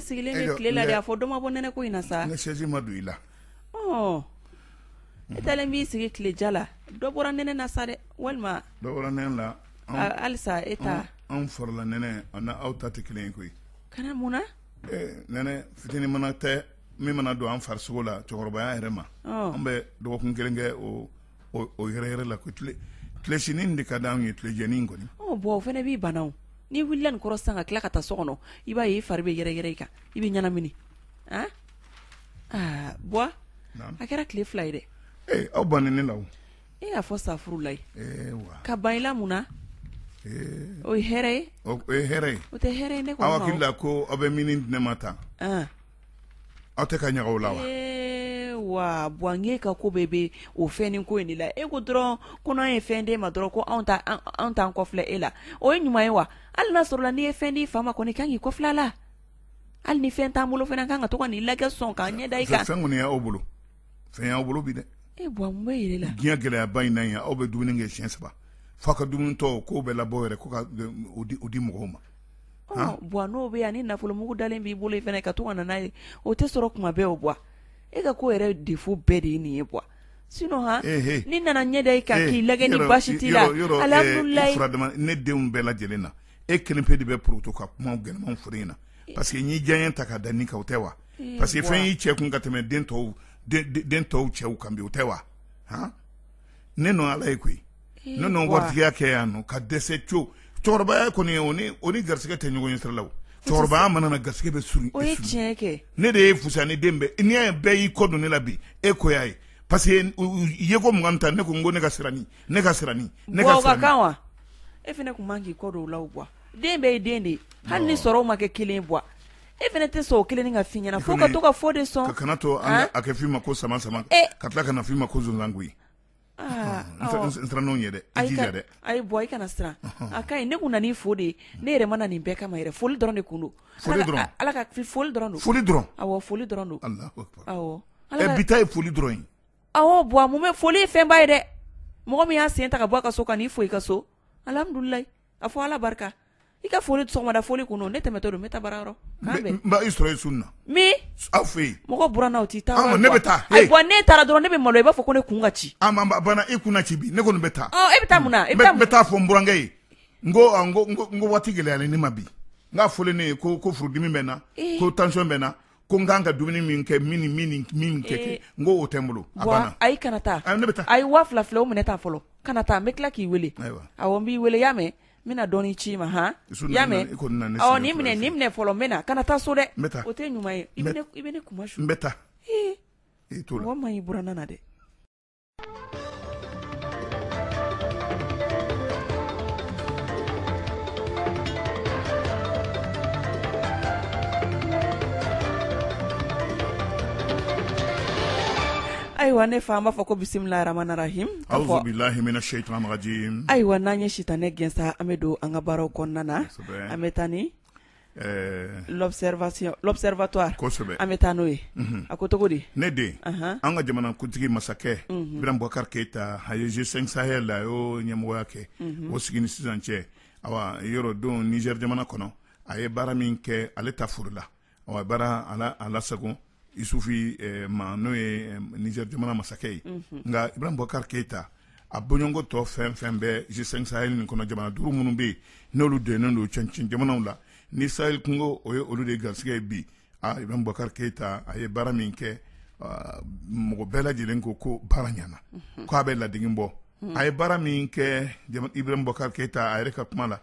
sigilen bɛ tile la dɛ a fɔ dɔ ma bɔ nɛnɛ ko in na sa ne sɛji ma don i la i taalen b'i sigi tile ja la dɔ bɔra nɛnɛ na sa dɛ walima dɔ bɔra nɛnɛ la halisa e taa anw fari la nɛnɛ ani aw ta tɛ kelen ye koyi kana mun na nɛnɛ fitinin mana tɛ min mana don an farisogo la cɛkɔrɔbaya yɛrɛ ma an bɛ dɔgɔkun kelen kɛ o o yɛrɛ yɛrɛ la ko tilesinin de ka di anw ye tilejanin kɔni bɔn o fana b'i bana n'i wulila nin kɔrɔ sa ka tila ka taa so kɔnɔ i b'a ye i fari bɛ yɛrɛ yɛrɛ i kan i bɛ ɲɛnamini a aa bɔn a kɛra tile fila ye dɛ ee aw banna ne la e a fɔ safurulayi ka ban i la mun na o ye hɛrɛ ye o ye hɛrɛ ye o tɛ hɛrɛ ye ne ko aw hakili la ko aw bɛ min di ne ma tan aw tɛ ka ɲa ko la wa ee Buwa e ka ko bɛɛ bɛ o fɛn di ko in de la e ko dɔrɔn ko n'an ye fɛn d'e ma dɔrɔn ko an t'an kɔfilɛ e la o ye ɲuman ye wa hali n'a sɔrɔla n'i ye fɛn d'i fa ma kɔni i kan k'i kɔfilɛ a la hali ni fɛn t'an bolo fana kan ka to ka n'i lajɛ sɔn k'an ɲɛ da i kan fɛn kɔni y'aw bolo fɛn y'aw bolo bi dɛ e Buwa n bɛ la diɲɛ gɛlɛyaba in na yan aw bɛ dumuni kɛ siyɛn saba fa ka dumunitɔ k'o bɛɛ labɔ yɛrɛ ko ka di mɔgɔw ma Buwa n'o bɛ hali ni nafolomugu dalen b'i bolo fana ka to ka na n'a ye o tɛ sɔrɔ kuma bɛɛ o Buwa e ka ko yɛrɛ défaut bɛɛ de ye nin ye Buwa sinon an nana an ɲɛ da i kan k'i lajɛ ni basi t'i la alihamidulilayi ne denw bɛɛ lajɛlen na e kelen pe de bɛ porotu ka kuma gɛlɛnman fɔ n na parce que n'i diyaɲɛ ta ka da ne kan o tɛ wa parce que fɛn y'i cɛ kun ka tɛmɛ den tɔw cɛw kan bi o tɛ wa ne nɔ ala ye koyi ne nɔ waritigiya kɛ yan nɔ ka dɛsɛ co cɛkɔrɔbaya kɔni o ni o ni garisɛgɛ tɛ ɲɔgɔn ye sira la cɛkɔrɔbaya mana na garisɛgɛ bɛ surun o ye tiɲɛ kɛ ne de ye fusa ni den bɛɛ n'i y'a ye bɛɛ y'i kɔ don ne la bi e ko y'a ye parce que ye ko mugan ta ne ko n ko ne ka siranni ne ka siranni ne ka siranni kan wa e fana tun man k'i kɔ don u la o Buwa den bɛɛ ye den de ye hali ni sɔrɔ ma kɛ kelen ye e fana tɛ sɔn o kelen nin ka fɔ i ɲɛna fo ka to ka fɔ de sɔn, i kana to a ka fɔ i ma ko sama sama ka tila ka na fɔ i ma ko sonsan koyi, aa, awɔ, n siranna o ɲɛ dɛ, i jija dɛ, ayi Buwa i kana siran a ka ɲi ne tun nan'i fo de ne yɛrɛ ma na nin bɛɛ kama yɛrɛ foli dɔrɔn de tun don, foli dɔrɔn, Ala ka foli dɔrɔn don, foli dɔrɔn, awɔ foli dɔrɔn don, Alahu akbar, awɔ, ɛ bi ta ye foli dɔrɔn ye, awɔ Buwa mun bɛ foli ye fɛnba ye dɛ, mɔgɔ min y'a sen ta ka bɔ a ka so ka n'i fo i ka so alihamidulilayi A fɔ ala barika i ka foli sɔgɔmada foli tun don ne tɛmɛtɔ don n bɛ taa baarayɔrɔ i sɔrɔ sun na aw fɛ mɔgɔ buranna i tɛ taa ne bɛ taa ayi Buwa n'e taara dɔrɔn ne bɛ malo i b'a fɔ ko ne kun ka ci i kun na ci bi ne kɔni bɛ taa e bɛ taa mun na n bɛ taa fɔ n burankɛ ye n ko waati gɛlɛyalen ne ma bi nka a fɔlen ne ye ko furudimi bɛ n na ko tansiyɔn bɛ n na ko n kan ka dumuni min kɛ min min min kɛ kɛ n ko o tɛ n bolo ayi kana taa ne bɛ taa a ye waa fila fila o minɛ taa fɔlɔ kana taa n bɛ tila k'i weele a n b'i weele y'a mɛn n bɛna dɔɔnin ci i ma hɔn y'a mɛn nin minɛ nin minɛ fɔlɔ n bɛna kana taa so dɛ o tɛ ɲuman ye i bɛ ne kuma su bɛ taa i to ma y'i buranna na dɛ Ayiwa ne fana b'a fɔ ko bisimilahi rahamani rahimi ayiwa n'an ye sitanɛ gɛn sa an bɛ don an ka baro kɔnɔna na an bɛ taa L'observatoire an bɛ taa n'o ye a ko cogo di ne den an ka jamana kuntigi masakɛ Ibrahim Boubacar Keita a ye G5 Sahel a y'o ɲɛmɔgɔya kɛ o sigi ni sisan cɛ awa yɔrɔ don Niger jamana kɔnɔ a ye baara min kɛ ale ta foorila awa baara a lasagon isufi ma n'o ye Niger jamana masakɛ ye nka Ibrahim Boubacar Keita a bɔɲɔgɔnko tɔ fɛn fɛn bɛ G5 Sahel nin kɔnɔ jamana duuru minnu bɛ yen n'olu donnen don cɛncɛn jamanaw la ni Sahel kungo o ye olu de garisɛgɛ ye bi Ibrahim Boubacar Keita a ye baara min kɛ mɔgɔ bɛɛ lajɛlen ko ko baara ɲana k' a bɛ ladege bɔ a ye baara min kɛ Ibrahim Boubacar Keita a yɛrɛ ka kuma la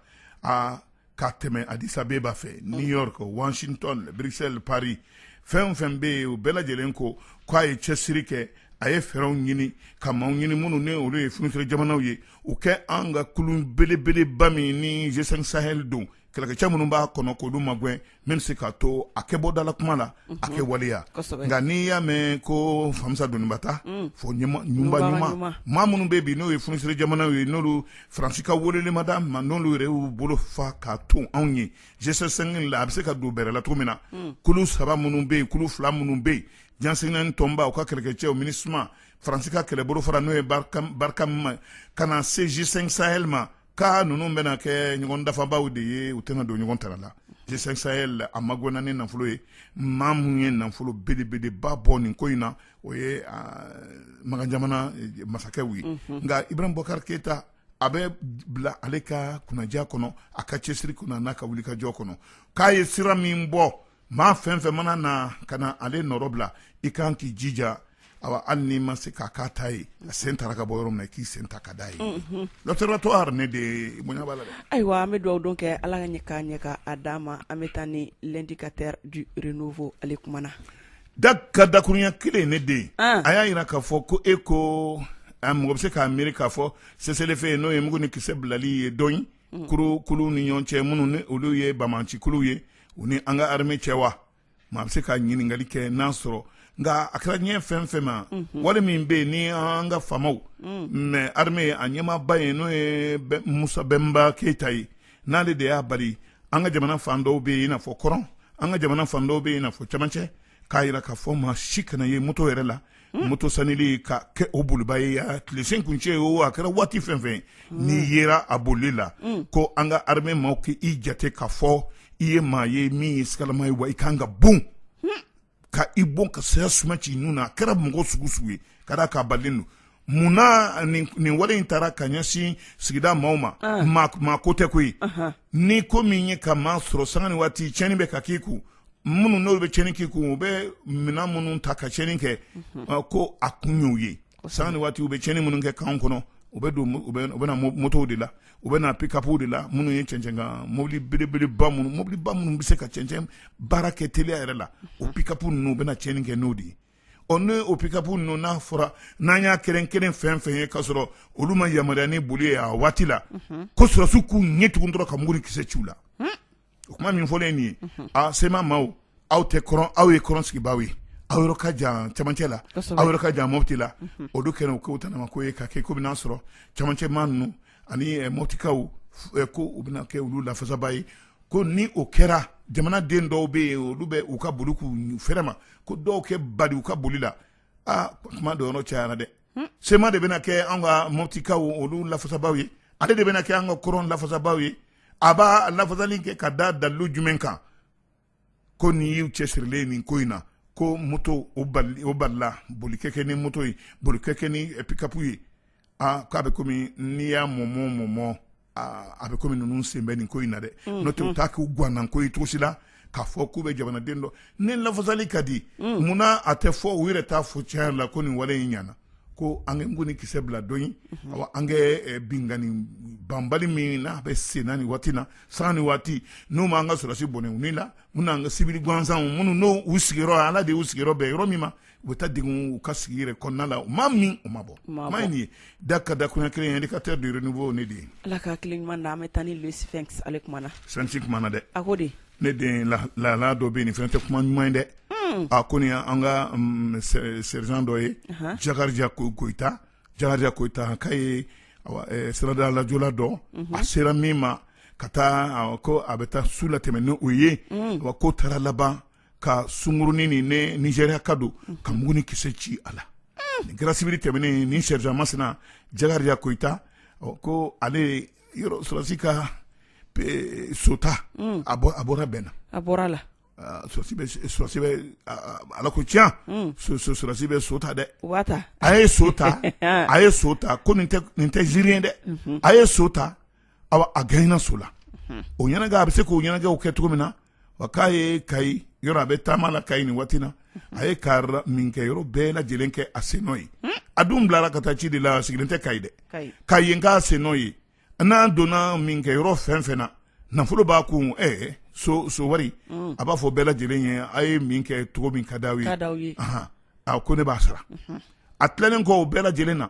ka tɛmɛ Addis Abeba fɛ new york washington Bruxelles paris fɛn fɛn bɛ yen u bɛɛ lajɛlen ko k'a ye cɛsiri kɛ a ye fɛɛrɛw ɲini ka maaw ɲini minnu ni olu ye fsirire jamanaw ye u ka an ka kulu belebeleba min ni G5 Sahel don kɛlɛkɛcɛ minnu b'a kɔnɔ k'olu magɛn min bɛ se k'a to a ka bɔ dalakuma na a kɛ waleya nka n'i y'a mɛn ko famisa donbata fɔ ɲumanuma maa minnu bɛ bi n'o ye fsirire jamanaw ye n'olu Fransi ka weleli ma dama n'olu yɛrɛ y'u bolo fa ka tɔn anw ye G5 la a bɛ se ka don bɛrɛ la cogo min na kulu saba minnu bɛ yen kulu fila minnu bɛ yen diɲɛ seleke naani tɔnba u ka kɛlɛkɛcɛ MINUSMA faransi ka kɛlɛ bolofara n'o ye Barkhane ka na se G5 Sahel ma ko ninnu bɛna kɛ ɲɔgɔn dafabaa de ye u tɛna don ɲɔgɔn taga la G5 Sahel a magɛnna ni nafolo ye maa minnu ye nafolo belebeleba bɔ nin ko in na o ye makan jamana masakɛw ye nka Ibrahim Boubacar Keita a bɛ bila ale ka kunnaja kɔnɔ a ka cɛsiri kunna n'a ka wuli ka jɔ kɔnɔ k'a ye sira min bɔ maa fɛn fɛn mana na ka na ale nɔ rɔ bila i ka kan k'i jija awa hali n'i ma se ka kɛ a ta ye a sen tara ka bɔ yɔrɔ min na i k'i sen ta ka da yen l'observatoire ne de bonya b'a la dɛ ayiwa an bɛ dugawu don kɛ ala ka ɲɛ k'a ɲɛ k'a d'a ma an bɛ taa ni l'indicateur du renouveau ale kumana Da ka dakurunya kelen ye ne den ye a y'a jira k'a fɔ ko e ko mɔgɔ bɛ se k'a miiri k'a fɔ cessez-le-feu ye n'o ye mugu ni kisɛ bilali ye dɔn kulu ni ɲɔgɔn cɛ minnu ni olu ye banbaanci kulu ye u ni an ka armée cɛ wa maa bɛ se ka ɲininkali kɛ n'an sɔrɔ nka a kɛra ɲɛ fɛn fɛn ma wale min bɛ yen ni an ka FAMa armée a ɲɛmaaba ye n'o ye Musa Bɛnba Keyita ye n'ale de y'a bali an ka jamana fan dɔw bɛ yen i n'a fɔ kɔrɔn an ka jamana fan dɔw bɛ yen i n'a fɔ camancɛ k'a jira k'a fɔ maa si kana ye moto yɛrɛ la hmm. moto sanili ka kɛ o bolibaa ye a tilesen kuncɛ o a kɛra waati fɛn fɛn hmm. n'i yera a bolili la hmm. ko an ka armée maaw k'i jate k'a fɔ i ye maa ye min ye sigalama ye wa i ka kan ka bon ka i bon ka saya suma c'i nun na a kɛra mɔgɔ sugu sugu ye ka da k'a balilen don munna nin wale in taara ka ɲɛsin sigida maaw ma ah. maa ko tɛ koyi ni ko min ye ka maa sɔrɔ sanga ni waati tiɲɛni bɛ ka k'i kun minnu n'olu bɛ tiɲɛni k'i kun u bɛ minɛn minnu ta ka tiɲɛni kɛ ah, ko a kun y'u ye sanga ni waati u bɛ tiɲɛni minnu kɛ kan kɔnɔ u bɛ don u bɛ na motow de la u bɛ na pikapuw de la minnu ye cɛncɛn kan mobili belebele minnu mobili ba minnu bɛ se ka cɛncɛn baara kɛ teliya yɛrɛ la o pikapu ninnu u bɛ na tiɲɛni kɛ n'o de ye ɔ n'o pikapu ninnu n'a fɔra n'an y'a kelen kelen fɛn fɛn ye k'a sɔrɔ olu ma yamaruya ni boli ye a waati la ko sɔrɔsiw k'u ɲɛ tugun dɔrɔn ka mugu ni kisɛ ci u la o kuma min fɔlen nin ye aaa sema maaw aw tɛ aw ye kɔrɔn sigibaaw ye aw yɔrɔ ka jan camancɛ la aw yɔrɔ ka jan moti la o don kɛnɛ ko t ko ye ka kɛ ko bɛna sɔrɔ camancɛ maa ninnu ani motikaw ko u bɛna kɛ olu lafasabaa ye ko ni o kɛra jamana den dɔw bɛ yen olu bɛ u ka boli k'u fɛrɛ ma ko dɔw kɛ bali u ka boli la aa kuma dɔ yɔrɔ cayara dɛ sema de bɛna kɛ an ka motikaw olu lafasabaaw ye ale de bɛna kɛ an ka kɔrɔn lafasabaaw ye a b'a lafasali kɛ ka da dalilu jumɛn kan ko nin y'u cɛsirilen nin ko in na ko moto o balila boli ka kɛ ni moto ye boli ka kɛ ni pikapu ye aa k'a bɛ komi n'i y'a mɔmɔ mɔmɔ a bɛ komi ninnu sen bɛ nin ko in na dɛ n'o tɛ u t'a k'u gwannan ko ye cogo si la k'a fɔ k'u bɛ jamanaden dɔ ni lafasali ka di munna a tɛ fɔ u yɛrɛ t'a fɔ tiɲɛ la ko nin wale in ɲɛna ko an ka mugu ni kisɛ bila dɔ ye an kɛ binkanni banbali min n'a bɛ sen na nin waati na sanga ni waati n'u ma an ka sɔrɔsi bɔnɛ u ni la n'an ka siwili gansanw minnu n'u sigiyɔrɔ ala de y'u sigiyɔrɔ bɛn yɔrɔ min ma u bɛ taa degun u ka sigi yɛrɛ kɔnɔna la maa min u ma bɔ maa in ye da ka dakurunya kelen Indicateur du Renouveau ne de ye ala ka hakili ɲuman na an bɛ taa ni Le Sphinx ale kumana Sphinx kumana dɛ a ko de ne den la dɔ bɛ nin fɛn tɛ kuma ɲuman ye dɛ a ko nin an ka sergent dɔ ye Jakarija Koyita k'a ye sirada lajɔla dɔ a sera min ma ka taa ko a bɛ taa su la tɛmɛ ni o ye wa ko taara laban ka sunkurunin ni ne nizɛriyaka don ka mugu ni kisɛ ci a la nin kɛra sibiri tɛmɛnen in sɛrizan masina jakariya koyita ko ale yɔrɔ sɔrɔsi ka so ta a bɔra bɛnna a bɔra la sɔrɔsi bɛ ala ko tiɲɛ sɔrɔsi bɛ so ta dɛ a ye so ta a ye so ta ko nin tɛ ziiri ye dɛ a ye so ta a gɛnna so la o ɲɛnajɛ a bɛ se k'o ɲɛnajɛw kɛ cogo min na wa k'a ye kayi yɔrɔ a bɛ taama la kayi nin waati na a ye kayi minkɛyɔrɔ bɛɛ lajɛlen kɛ a sennɔ ye a dun bilara ka taa ci de la a sigilen tɛ kayi dɛ ka yen k'a sennɔ ye n'a donna minkɛyɔrɔ fɛn fɛn na nafolo b'a kun ɛɛ so so wari a b'a fɔ bɛɛ lajɛlen ye a ye min kɛ cogo min ka di aw ye a ko ne b'a sara a tilalen kɔ o bɛɛ lajɛlen na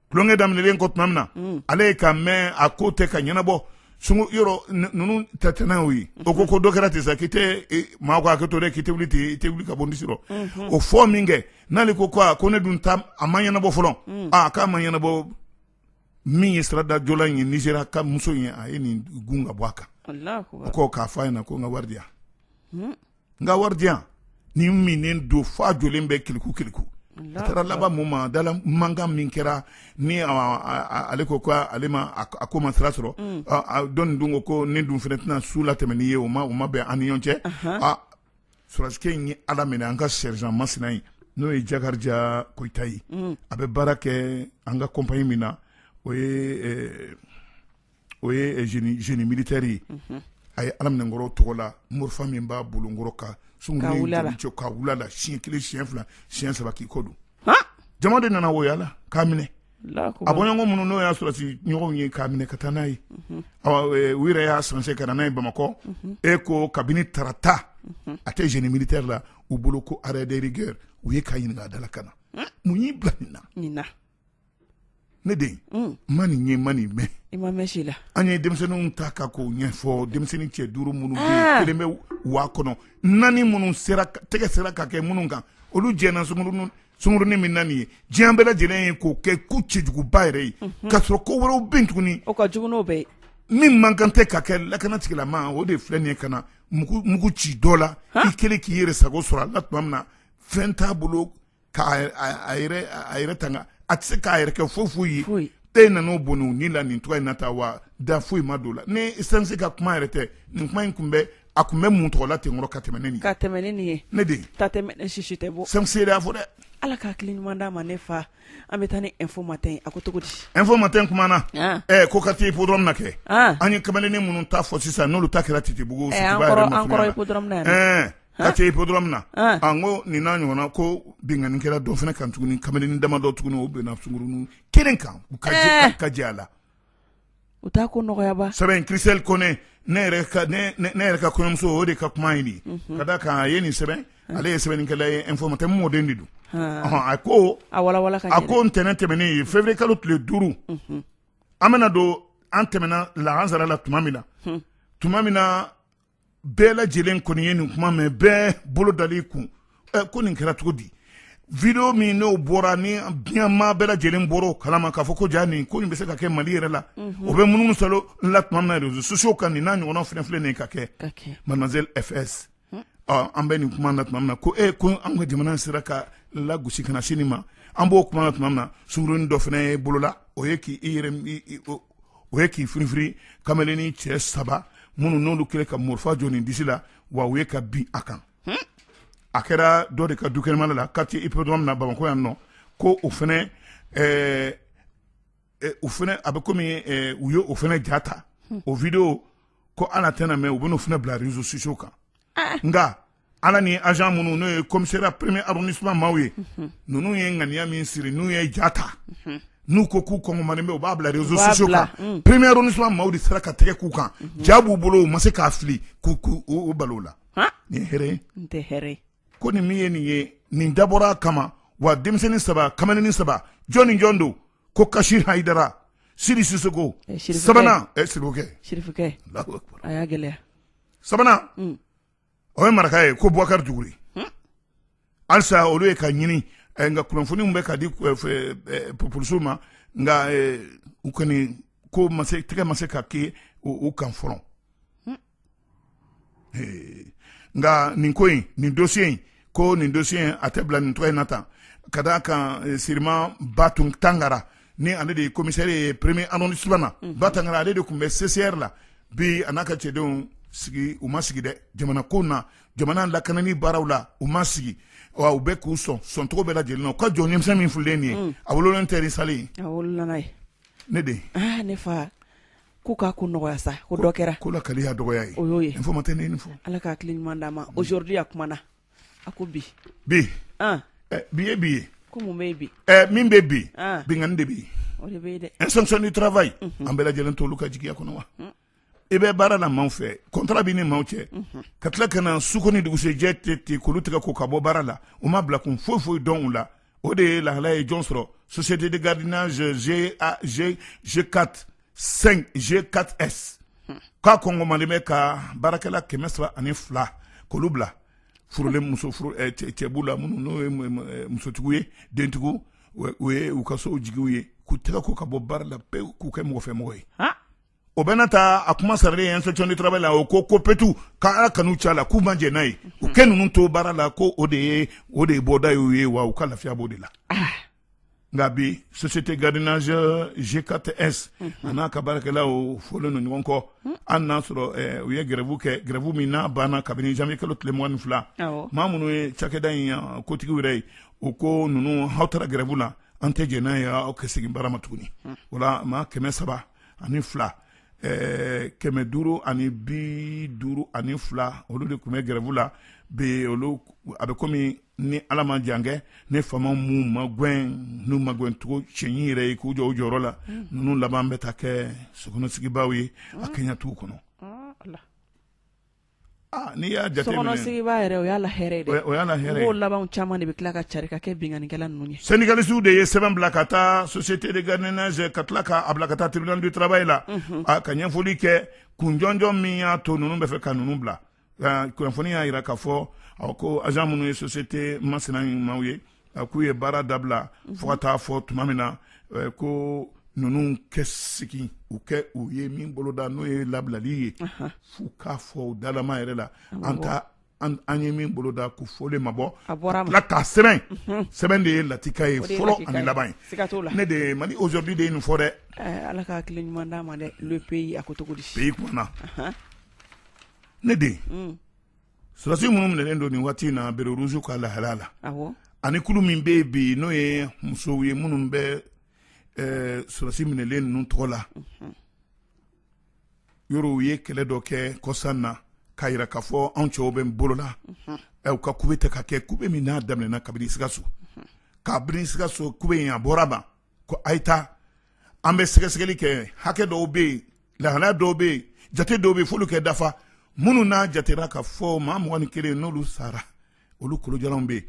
tulonkɛ daminɛlen kɔ tuma min na mm. ale ye ka mɛn a ko tɛ ka ɲɛnabɔ sungu yɔrɔ ninnu ta tɛnɛw ye o ko ko dɔ kɛra ten sa k'i tɛ e, maa ko hakɛ to dɛ k'i tɛ wuli ten i tɛ wuli ka bɔ n disi rɔ mm-hmm. o fɔ min kɛ n'ale ko ko ko ne dun ta a ma ɲɛnabɔ fɔlɔ mm. a k'a ma ɲɛnabɔ min ye siradajɔla in ye nizɛriyaka muso in ye a ye nin gun ka bɔ a kan o ko k'a fɔ a ɲɛna ko n ka wari di yan mm. n ka wari di yan nin minnen don f'a jɔlen bɛ kiliku kiliku a taara laban mun ma dala mankan min kɛra ni ale ko ko ale ma a ko ma sira sɔrɔ mm. dɔnni dun ko ko ne dun fana tɛna su la tɛmɛ n'i ye o ma o ma bɛn an ni ɲɔgɔn cɛ a sɔrɔsikɛ in ye ala minɛ an ka sɛrizan masina in n'o ye jakariya koyita ye mm. a bɛ baara kɛ an ka kɔnpanyi min na o ye o ye zeni militɛri a ye ala minɛ n kɔrɔ tɔgɔla morifa min b'a bolo n kɔrɔ ka sunkurun ka wula la siɲɛ kelen siɲɛ fila siɲɛ saba k'i kɔ don jama de nana woya la k'a minɛ a bɔɲɔgɔn minnu n'o y'a sɔrɔsi ɲɔgɔnw ye k'a minɛ ka taa n'a ye u yɛrɛ y'a sanse ka na n'a ye bamakɔ e ko kabini tarata a tɛ zeni militɛri la u bolo ko arɛ de rigɛri u ye k'a ɲininka a dala ka na mun y'i bila nin na ne den mm. ma nin ye ma nin mɛn i ma mɛn si la an ye denmisɛnninw ta ka k'o ɲɛfɔ denmisɛnnin cɛ duuru minnu bɛ ah. kelen bɛ wa kɔnɔ naani minnu sera tɛgɛ sera ka kɛ minnu kan olu jɛnna sunkurunin sunkurunin min na nin ye diɲɛ bɛɛ lajɛlen ye k'o kɛ ko cɛjuguba yɛrɛ ye mhm. k'a sɔrɔ ko wɛrɛw bɛ yen tuguni o ka jugu n'o bɛɛ ye min man kan tɛ ka kɛ lakanatigilama o de filɛ nin ye ka na mugu ci dɔ la i kelen k'i yɛrɛ sago sɔrɔ a la tuma min na fɛn t'a bolo k'a yɛrɛ tanga a tɛ se k'a yɛrɛ kɛ foyi foyi ye e nana bɔnɛ ni la nin cogo in na taa wa da foyi ma don la ni sanse ka kuma yɛrɛ tɛ nin kuma in tun bɛ a tun bɛ mun tɔgɔla ten kɔrɔ ka tɛmɛn ne ka tɛmɛn nin ye ne den ta tɛ mɛnɛ sisi tɛ bɔ sanse y'a fɔ dɛ ala ka hakili ɲuman d'a ma ne fa an bɛ taa ni ɛnfo matɛn a ko cogo di ɛnfo matɛn kumana ɛ ko ka taa ipodɔrɔmu na kɛ an ye kamalennin minnu ta fɔ sisan n'olu ta kɛra titibugu quartier hippodrome na an ko nin n'a ɲɔgɔn ko binkanni kɛra dɔ fana kan tuguni kamalennin damadɔ tuguni u binna sungurunin kelen kan u ka ka jɛ a la u t'a ko nɔgɔyaba sɛbɛn in Christelle Kone ne yɛrɛ ka kɔɲɔmuso o de ka kuma in de ka da kan a ye nin sɛbɛn ale ye sɛbɛnnikɛla ye info matin mɔden de don a ko a ko ntɛnɛn tɛmɛnen ye février kalo tile duuru an bɛna don an tɛmɛna lahansara la tuma min na tuma min na bɛɛ lajɛlen kɔni ye nin kuma mɛn bɛɛ bolo dali kun ɛ ko nin kɛra cogo di video min n'o bɔra ni diɲɛmaa bɛɛ lajɛlen bɔra o kalama k'a fɔ ko ja nin ko nin bɛ se ka kɛ mali yɛrɛ la mhm. o bɛ munumunu salo la tuma min na réseaux sociaux kan nin n'a ɲɔgɔnna filɛ filɛ nin ka kɛ mademoiselle FS hmm. an bɛ nin kuma na tuma min na ko e ko an ka jamana sera ka lagosi ka na se nin ma an b'o kuma na tuma min na sungurunin dɔ fana ye bolola o ye k'i i yɛrɛ o ye k'i firifiri kamalennin cɛ saba minnu n'olu kɛlen ka marifa jɔ nin disi la wa u ye ka bin a kan a kɛra dɔ de ka du kɛnɛma la quartier hippodrome na bamakɔ yan nɔ ko o fana o fana a bɛ kɔmi u ye o fana ja ta o video ko ala tɛna mɛn u bɛn'o fana bila réseaux sociaux kan nka ala ni agent minnu n'o ye commissariat premier arrondissement maaw ye ninnu ye ŋaniya min siri n'u ye ja ta n'u ko k'u kɔn man bɛ u b'a bila réseaux sociaux kan premier arrondissement maaw de sera ka tɛgɛ k'u kan ja b'u bolo u ma se k'a fili k'u k'u bal'o la nin hɛrɛ tɛ ko nin min ye nin ye nin dabɔra kama wa denmisɛnnin saba kamalennin saba jɔn ni jɔn don ko kasi haidara sidi sisoko sabanan sirifukɛ sabanan o ye maraka ye ko bubakari dukure halisa olu ye ka ɲini eh, nka kunnafoniw bɛ ka di eh, eh, polisiw ma nka u kɔni ko tɛgɛ ma se ka kɛ u kan fɔlɔ nka nin ko in nin dosiye in ko nin dossier in a tɛ bila nin cogo in na tan ka d'a kan eh, siriman ba tangara ni ale de ye commissaire ye premier arrondissement na mhm. ba tangara ale de tun bɛ CCR la bi a n'a ka cɛdenw sigi u ma sigi dɛ jamana ko na jamana lakanani baaraw la u ma sigi wa u bɛ k'u sɔn sɔncogo bɛɛ lajɛlen na u ka jɔn ɲɛmisɛn min fulen nin ye mm. a wololen tɛ ni sale ye ne den ah, ne fa ko k'a ko nɔgɔya sa ko dɔ kɛra ko la kali y'a dɔgɔya ye o y'o ye info matin ne ni fɔ Ala ka hakili ɲuman d'an ma aujourd'hui a kumana a ko bi bi an ɛ bi ye bi ye ko mun bɛ ye bi ɛ min bɛ bi an binkanni de bɛ yen o de bɛ ye dɛ inspection du travail an bɛɛ lajɛlen t'olu ka jigiya kɔnɔ wa i bɛ baara la maaw fɛ contrat b'i ni maaw cɛ ka tila ka na su ko ni dugusɛjɛ cɛ ten k'olu tigɛ ko ka bɔ baara la u ma bila kun foyi foyi dɔn u la o de ye lahala ye jɔn sɔrɔ société de gardiennage G4 5 G4S k'a kɔngɔmalen bɛ ka baarakɛla kɛmɛ saba ani fila k'olu bila furulen muso furu eh, cɛbu la minnu n'o ye eh, musotigiw ye dentigiw o ye u ka sow jigiw ye k'u tɛgɛ ko ka bɔ baara la pewu k'u kɛ mɔgɔ fɛ mɔgɔ ye o bɛna ta a kuma saralen ye inspection du travail la o ko ko PETU ka Ala kanu c'a la k'u ma jɛn n'a ye u kɛ ninnu to baara la ko o de ye o de ye bɔda y'u ye wa u ka lafiya b'o de la nka bi société gardiennage G4S a n'a ka baarakɛlaw fɔlen don ɲɔgɔn kɔ hali n'a sɔrɔ u ye grève kɛ grève min n'a banna kabini janvier kalo tile mugan ni fila maa minnu ye cakɛda in kotigiw yɛrɛ ye u ko ninnu aw taara grève la an tɛ jɛn n'a ye aw ka segin baara ma tuguni o la maa kɛmɛ saba ani fila eh, kɛmɛ duuru ani bi duuru ani fila olu de tun bɛ grève la bi olu a bɛ komi ni ala ma jankɛ ni faama m'u magɛn n'u magɛncogo cɛɲi yɛrɛ ye k'u jɔ jɔyɔrɔ la mm. ninnu laban bɛ taa kɛ sokɔnɔsigibaaw ye a mm. kɛɲɛtigiw kɔnɔ mm. N'i y'a jate yɛrɛ o y' o laban caman de bɛ tila ka ca ka kɛ binkanikɛla ninnu saninikalisiw de ye sɛbɛn bila ka taa so sete nɛnɛ ka tila k'a bila ka taa tbili turaba e la ka ɲɛfɔli kɛ kunjjɔ min y'a to ninnu bɛ fɛ ka ninnu bila kunnafoni y'a jira k ka fɔ ko azmu ye so sete masina ɲumanw ye a k'u ye baara dabila fo ka taa fo tuma min na eh, ko ninnu kɛ sigi u kɛ u ye min boloda n'o ye labilali ye f'u k'a fɔ u dalama yɛrɛ la an ta an ye min boloda ko fɔlen ma bɔ la k'a sɛbɛn mhm. sɛbɛn de ye latika ye fɔlɔ ani laban ye ne de Mali aujourd'hui de ye nin fɔ dɛ eh, ala ka hakili ɲuman d'a ma dɛ le pays a ko cogo di pays kumana ne de mm. Sɔrɔdasi minnu minɛnen don nin waati in na béret rouge ka lahala la, awɔ, ani kulu min bɛ yen bi n'o ye musow ye minnu bɛ ɛɛ sɔrɔdasi minɛlen ninnu tɔgɔ la, unhun, yɔrɔ u ye kɛlɛ dɔ kɛ kɔsa in na k'a jira k'a fɔ anw cɛw bɛ bolo la, unhun, ɛ u ka kube tɛ ka kɛ kube min n'a daminɛna kabini Sikaso, unhun, kabini Sikaso kube in a bɔra a ma ko a ye taa an bɛ sɛgɛsɛgɛli kɛ hakɛ dɔw bɛ yen lahalaya dɔw bɛ yen jate dɔw bɛ yen f'olu kɛ dafa minnu n'a jatera ka fɔ maa mugan ni kelen n'olu sara olu kolojalanw bɛ yen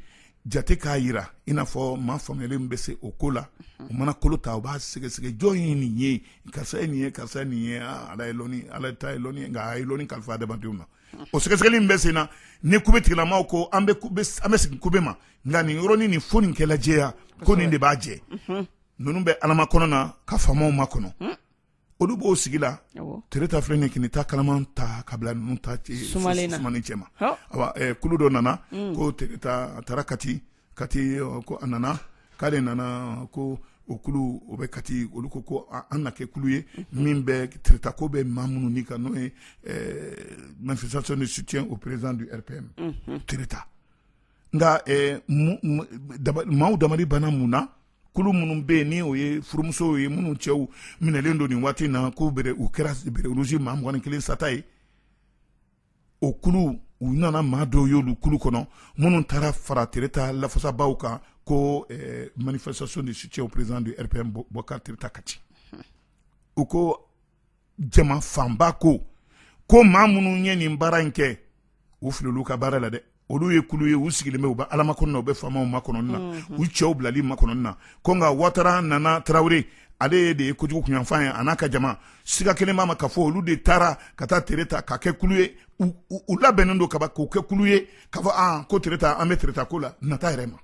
jate k'a jira i n'a fɔ maa faamuyalen bɛ se o ko la o mana kolo ta u b'a sɛgɛsɛgɛ jɔn ye nin ye karisa ye nin ye karisa ye nin ye ah, ala ye lɔni ala ta ye lɔni nka a ye lɔni kalifa adamadenw na o sɛgɛsɛgɛli bɛ sen na ni kube tigilamaw ko an bɛ an bɛ sigi kube ma nka nin yɔrɔnin nin fo nin kɛla jɛya ko nin de b'a jɛ ninnu bɛ Ala makɔnɔna ka faamaw makɔnɔ olu b'o sigi la tereta filɛ nin kini ta kalaman ta ka bila ninnu ta sumani cɛ ma kulu dɔ nana ko a taara kati kati ko a nana k'ale nana ko o kulu o bɛ kati olu ko ko an na kɛ kulu ye min bɛ tereta ko bɛ maa minnu ni kan n'o ye manifestation de soutien au président du RPM tereta nka maaw dabali banna mun na kulu minnu bɛ yen ni o ye furumusow ye minnu cɛw minɛlen don nin waati na ko u kɛra bérets rouges maa mugan ni kelen sata ye o kulu u nana maa dɔw y'olu kulu kɔnɔ minnu taara fara tereta lafasabaaw kan ko manifestation de soutien au président du RPM bokari tereta kati u ko jama fanba ko ko maa minnu ye nin baara in kɛ u filil'olu ka baara la dɛ olu ye kulu ye u sigilen bɛ u bɛ Ala makɔnɔ u bɛ faamaw makɔnɔna u cɛw bilali makɔnɔna ko nka watara nana tarawele ale de ye kojugu kunyanfan ye a n'a ka jama siga kɛlen b'a ma k'a fɔ olu de taara ka taa tereta ka kɛ kulu ye u labɛnnen don kaba k'u kɛ kulu ye k'a fɔ ko tereta an bɛ tereta ko la nata yɛrɛ ma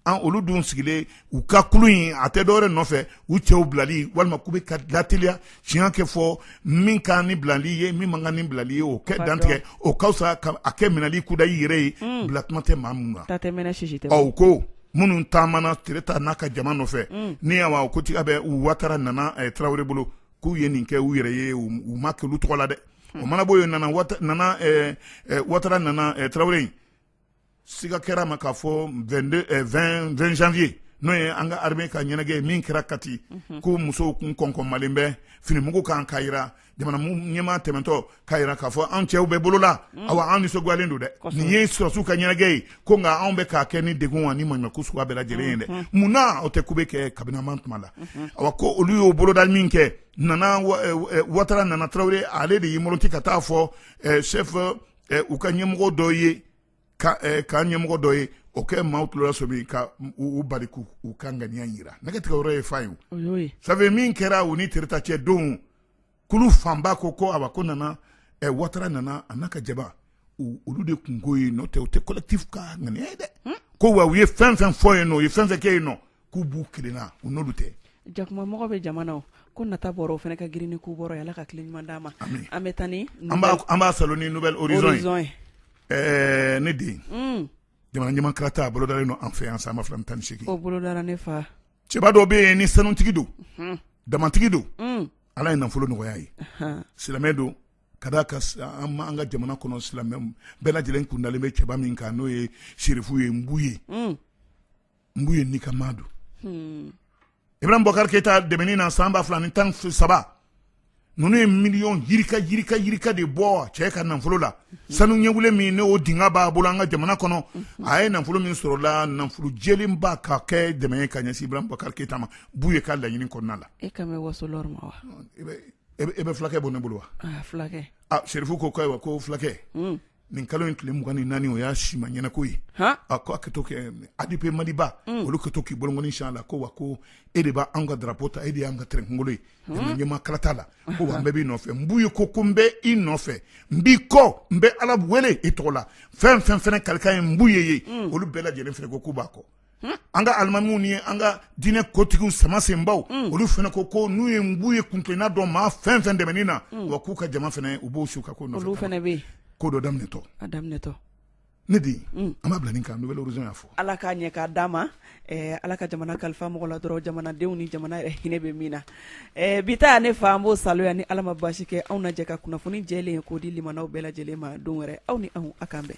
an olu dun sigilen u ka kulu in a tɛ dɔwɛrɛ nɔfɛ u cɛw bilali walima k'u bɛ ka lateliya tiɲɛ ka fɔ min ka kan ni bilali ye min man kan ni bilali ye o ka dantigɛ o ka fisa ka a kɛ minɛli kudayi yɛrɛ ye unn bila kuma tɛ maa minnu na ta tɛ mɛnɛ sisi tɛ bɔ u ko minnu taamana Tereta n'a ka jama nɔfɛ unn ni a wa ko tiga bɛ u Watara Nana ɛ Tarawele bolo k'u ye nin kɛ u yɛrɛ ye u u ma kɛ olu tɔgɔ la dɛ o mana bɔ yen Nana Wata Nana ɛɛ ɛ Watara Nana ɛ Tarawele in siga kɛr'a ma k'a fɔ 22 eh, 20 20 janvier n'o ye an ka armée ka ɲɛnajɛ ye min kɛra kati mhm. ko musow kun kɔnkɔnmalen bɛ finimugu kan k'a jira jamana ɲɛmaa tɛmɛntɔ k'a jira k'a fɔ an cɛw bɛ bolo la mhm. awa an nisɔngoyalen don dɛ nin ye sɔrɔsiw ka ɲɛnajɛ ye ko nka anw bɛ k'a kɛ ni degun ani maɲumanko suguya bɛɛ lajɛlen ye dɛ mhm. mun na o tɛ ko bɛ kɛ kabinama tuma la awa ko olu y'o boloda minkɛ nana watara nana tarawele ale de y'i mɔrɔti ka taa fɔ eh, chef ɛ u ka ɲɛmɔgɔ dɔ ye ka ɛ k'an ɲɛmɔgɔ dɔ ye o ka maaw tulo lasɔmi ka u bali k'u u ka ŋaniya yira nɛgɛ tigɛ yɔrɔ ye fan ye o y'o ye safe min kɛra u ni tereta cɛ don kulu fanba ko ko awa ko nana ɛ watara nana a n'a ka jama olu de kunko ye n'o tɛ u tɛ collectif ka ŋaniya ye dɛ ko wa u ye fɛn fɛn fɔ yen nɔ u ye fɛn fɛn kɛ yen nɔ k'u b'u kelenna u n'olu tɛ jakumamɔgɔ bɛ jamana o ko nata bɔra o fana ka girin ni k'u bɔra ala ka tile ɲuman d'a ma an bɛ taa ni an b'a salo ni nouvelle horizon ye ɛɛ ne den jamana ɲɛmaa kalata a bolodalen don an fɛ yan san ba fila tan ni segin o bolodara ne fa cɛba dɔ bɛ yen ni sanutigi don damantigi don ala ye nafolo nɔgɔya a ye silamɛ don ka d'a kan an ka jamana kɔnɔ silamɛ bɛɛ lajɛlen kundalen bɛ cɛba min kan n'o ye serifu ye nbuye nbuye nin ka maa don hmm. ibrahim bubakari keyita dɛmɛni na san ba fila ni tan ni saba ninnu ye miliyɔn yirika yirika yirika de bɔ cɛ ka nafolo la sanu ɲɛwule min ne o dinga b'a bolo an ka jamana kɔnɔ a ye nafolo min sɔrɔ o la nafolo jɛlen ba ka kɛ dɛmɛ ye ka ɲɛsin ibrahim bubakari keyita ma nbuye ka laɲini kɔnɔna la e kan bɛ wassoul'or ma wa e bɛ e fulakɛ bɔ ne bolo wa ah, fulakɛ ah, serifu ko ko ayiwa ko fulakɛ hmm. nin kalo in tile mugan ni naani o y'a si ma ɲɛnako ye a ko a ka tɔn kɛ adepe maliba mm. olu kɛtɔ k'i bolokɔni sin a la ko wa ko e de b'an ka darapo ta e de y'an ka tɛrɛnkungolo ye ɲɛmaa kalata la ko wa an bɛɛ b'i nɔfɛ nbuye ko ko n bɛ i nɔfɛ n b'i kɔ n bɛ ala wele i tɔgɔ la fɛn fɛn fana kalikan ye nbuye ye mm. olu bɛɛ lajɛlen fana ko k'u b'a kɔ an ka alimamiw ni an ka diinɛ kotigiw sama senbaw mm. olu fana ko ko n'u ye nbuye kuntilenna dɔn maa fɛn fɛn dɛmɛni na mm. wa k'u ka jama fana u b'o su ka ko nɔfɛ ko dɔ daminɛtɔ a daminɛtɔ ne de mm. an b'a bila nin kan nouvelle horizon y'a fɔ ala k'a ɲɛ k'a d'a ma eh, ala ka jamana kalifa mɔgɔ la dɔrɔn jamanadenw ni jamana yɛrɛ hinɛ bɛ min na eh, bi ta ne fa an b'o saloya ni ala ma baasi kɛ anw na jɛ ka kunnafoni jɛlen k'o di limanaw bɛɛ lajɛlen ma don wɛrɛ aw ni anw a k'an bɛn